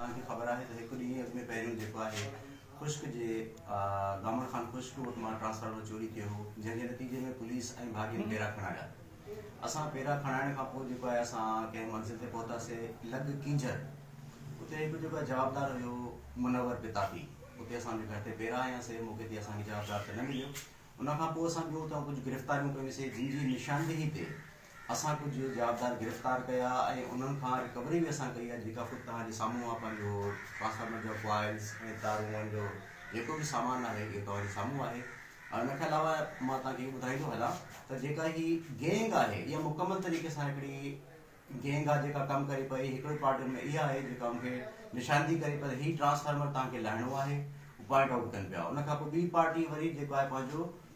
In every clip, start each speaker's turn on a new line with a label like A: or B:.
A: توهان کي خبر آهي ته هڪ ڏينهن اڳ ۾ پهريون جيڪو آهي خشڪ جي گامڻ خان خشڪ وٽ مان ٽرانسفارمر چوري ٿيو هو جنهن جي نتيجي ۾ پوليس ۽ ڀاڳين پيرا کڻايا اسان پيرا کڻائڻ کان پوء جيڪو آهي اسان ڪنهن منزل تي پهتاسي لڳ ڪينجهر اتي هڪ جيڪو آهي جوابدار هيو منور پتاپي اتي اسان جي گهر تي پيرا آيا سي موقعي تي اسان کي جوابدار ته نه مليو ان کان پوء اسان ٻيو اتان ڪجهه گرفتاريون ڪيون سي جن جي نشاندهي تي اسان ڪجهه جوابدار گرفتار ڪيا ۽ انهن کان رڪوري به اسان ڪئي آهي جيڪا خود توهان جي سامهون آهي پنهنجو ٽرانسفارمر جا ڪوائلز ۽ تارون جو جيڪو به سامان آهي اهو توهان جي سامهون آهي ۽ ان کان علاوه مان توهان کي اهو ٻڌائيندو هلان ته جيڪا هي گينگ آهي اها مڪمل طريقي سان هڪڙي گينگ آهي جيڪا ڪم ڪري پئي هڪڙو پارٽ ان ۾ اها آهي جيڪا مونکي نشاندهي ڪري پئي هي ٽرانسفارمر توهان کي لاهڻو آهي پوائنٽ آؤٽ ڪن پيا ان کان پوء ٻي پارٽي وري جيڪو آهي پنهنجو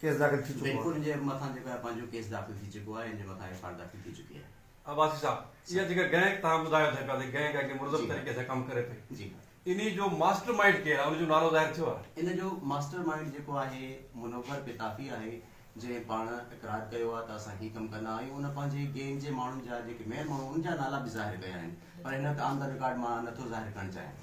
B: ڪيس داخل ٿي چڪو آهي. بينڪن جي مٿان جيڪو آهي
A: پنهنجو ڪيس داخل ٿي چڪو آهي ان جي مٿان ايف آر داخل ٿي چڪي آهي. عباسي صاحب
C: اها جيڪا گئنڪ توهان ٻڌايو ٿي پيا ته گئنڪ اڳي منظم طريقي سان ڪم ڪري پئي جي ها. انهي جو
A: ماسٽر
C: مائينڊ ڪير آهي ان جو نالو ظاهر ٿيو آهي. ان جو ماسٽر مائينڊ
A: جيڪو آهي منور پتافي آهي جنهن پاڻ اقرار ڪيو آهي ته اسان هي ڪم ڪندا آهيون ان پنهنجي گينگ جي ماڻهن جا جيڪي مين ماڻهو ان جا نالا به ظاهر ڪيا آهن پر هن وقت آن دا رڪارڊ مان نٿو ظاهر ڪرڻ چاهيان.